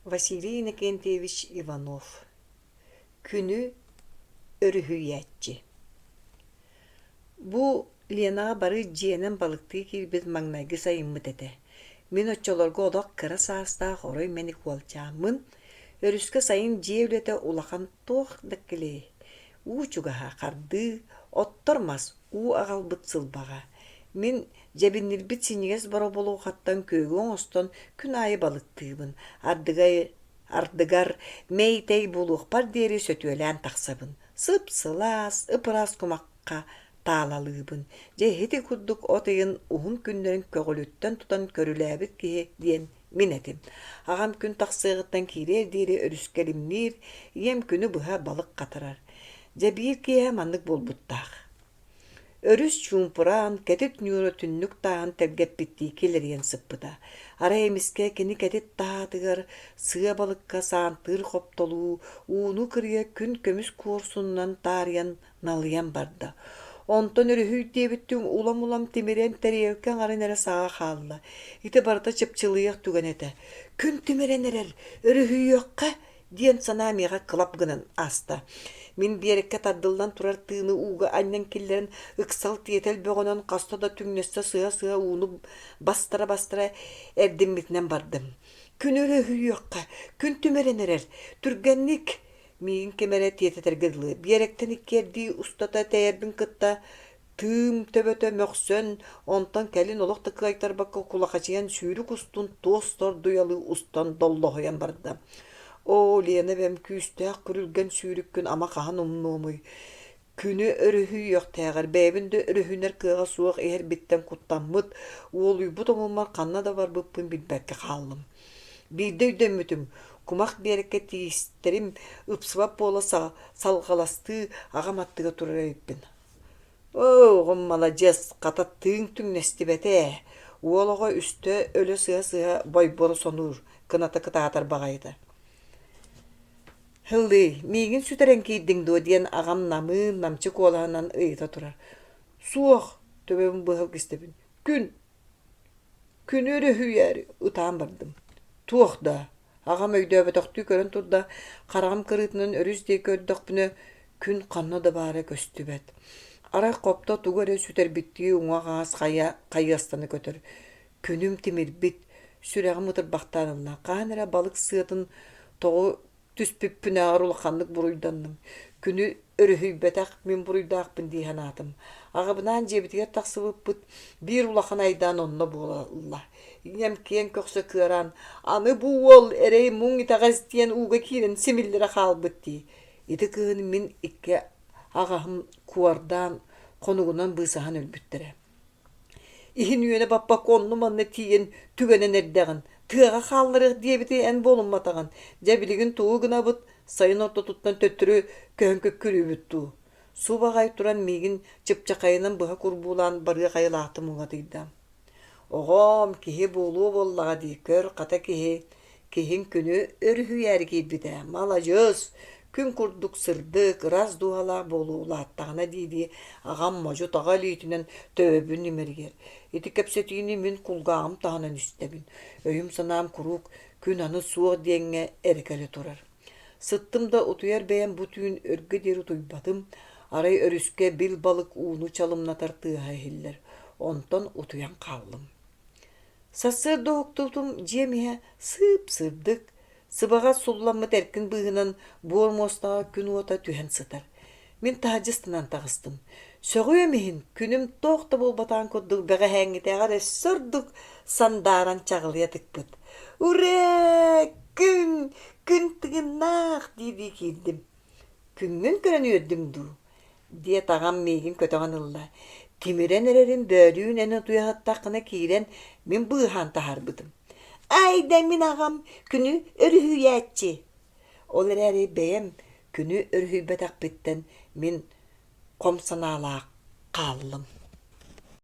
василий иннокентьевич иванов күнү өрүһүйээччи бу ленаҕа бары дьиэнэн балыктыы киирбит маҥнайгы сайыммыт этэ мин оччолорго олох кыра саастаах орой мэник уолчааммын өрүскэ сайын дьиэ үлэтэ улахан туох да килэй уу чугаһа хардыы, оттор мас уу аҕалбыт сылбаҕа. Мин дьэбиннирбит синьигэс боробулуохаттан күөгү оҥостон күн аайы балыктыыбын, ардыгар ардыгар мэй-тэй буолуохпар диэри сөтүөлээн тахсабын. Сып-сылаас, ып-ыраас кумахха таалалыыбын. Дьэ, ити курдук от ыйын уһун күннэрин көҕүлүттэн тутан көрүлээбит киһи диэн Мин этим, аҕам күн тахсыаҕыттан киириэр диэри өрүскэ илимниир, ийэм күнү быһа балык хатарар. Дьэ биир киэһэ маннык буолбуттаах. Өрүс чуумпураан, кэтит ньуура түннүк тааһын тэлгэппиттии килэрийэн сыппыта. Арай эмискэ кини кэтит таһаатыгар сыа балыкка саантыыр хоптолуу, ууну кырыйа күн көмүс куорсунунан таарыйан налыйан барда. Онтон өрүһүй диэбиттиҥ улам-улам тимирэн тэриэлкэ аҥарын эрэ саҕа хаалла. Ити барыта чыпчылыйыах түгэн этэ. Күн тимирэн эрэр, өрүһүйүөххэ, диэн санаа миэхэ кылап гынан ааста. Мин биэрэккэ тардыллан турар тыыны ууга анньан киллэрэн ыксал тиэтэл бөҕөнөн хаста да түҥнэстэ сыһа-сыһа ууну бастара-бастара эрдиммитинэн бардым. Күн өрүһүйүөххэ, күн тимирэн эрэр, түргэнник Миин ким эрэ тиэтэтэргэ дылы биэрэктэн иккиэрдии устата тэйэрбин кытта тыым төбөтө мөхсөн, онтон кэлин олох да кыайтарбакка кулахачыйан сүүрүк устун туос тордуйалыы устан доллоһуйан барда. Оо, Лена эбэм күүстээх күрүлгэн сүүрүккүн ама хаһан умнуомуй? Күнү өрүһүйүөхтээҕэр бэйэбин да өрүһүнэр кыаҕа суох иһэрбиттэн куттаммыт, уолуйбут омуммар ханна да барбыппын билбэккэ хааллым. Биирдэ өйдөммүтүм, кумах биэрэккэ тиистэрим ыпсыбат буола салҕаластыы аҕам аттыгар турар эбиппин. «Оо, маладьыас, хата тыыҥ түҥнэстибэтэ ээ» уол оҕо үстэ өлө сыһа-сыһа бойборо сонуур, кыната кытаатар баҕайыта Һылыы, миигин сүтэрэн киирдиҥ дуо диэн аҕам намыын намчы куолаһынан ыйыта турар. Суох, төбөбүн быһа кистэбин. Күн, күнү өрүһүйээри ытаан бардым. Туох даа? Аҕам өйдөөбөтөхтүү көрөн турда, хараҕым кырыытынан өрүс диэки көрдөхпүнэ, күн ханна да баара көстүбэт. Арай хопто тугу эрэ сүтэрбиттии уҥа-аҕас хайа хайыастана көтөр. Күнүм тимирбит, сүрэҕим ытырбахтаан ылла. Хаһан эрэ балык сыатын тоҕу түспүппүнээҕэр улаханнык буруйданным. Күнү өрүһүйбэтэх мин буруйдаахпын дии санаатым. Аҕабынаан дьиэбитигэр тахсыбыппыт биир улахан айдаан онно буолла. Ийэм киэҥ көхсө кыараан аны бу уол эрэй муҥ итэҕэс диэн ууга киирэн симиллэрэ хаалбыт дии. Ити кыһын мин икки аҕаһым куордаан хонугунан быысаһан өлбүттэрэ. иһин үөнэ баппакка онну манна тиийэн түгэнэн эрдэҕин тыаҕа хаалларыах диэбити эн буолумматаҕын дьэ билигин тугу гынабыт сайын ортотуттан төттөрү көһөн көккүрүүбүт дуу субаҕай туран миигин чыпчахайынан быһа курбуулаан барыах айылаахтым улатыйда оҕом киһи буолуо буоллаҕа дии көр хата киһи Киһин күнү өрүһүйээри киирбитэ маладьыас, күн курдук сырдык, ырас дууһалаах буолуу улааттаҕына дии-дии аҕам модьу-таҕа илиитинэн төбөбүн имэрийэр. Ити кэпсэтиини мин кулгааҕым таһынан истэбин. Өйүм-санаам куруук күн аны суох диэҥҥэ эрэ кэлэ турар. Сыттым да утуйар бэйэм бу түүн өргө диэри утуйбатым, арай өрүскэ бил балык ууну чалымнатар тыаһа иһиллэр, онтон утуйан хааллым. Сарсыарда уһуктубутум дьиэм иһэ сыып-сырдык, сыбаҕас сулламмыт эркин быыһынан буор муостаҕа күн уота түһэн сытар. Мин таһаджыстанан таҕыстым. Сөҕүөм иһин, күнүм туох да буолбатаҕын курдук бэҕэһээҥҥитээҕэр өссө ордук сандааран чаҕылыйа тыкпыт. «Урэ! Күн! Күн тыгыннаах!» диирдии киирдим. Күҥҥүн көрөн үөрдүҥ дуу? диэт аҕам миигин көтөҕөн ылла. Тимирэн эрэрин бөөрүүн эн утуйаһыттаххына киирэн мин быыһаан таһаарбытым. Айда мин аҕам күнү өрүһүйээччи. Ол эрээри бэйэм күнү өрүһүйбэтэхпиттэн мин хом санаалаах хааллым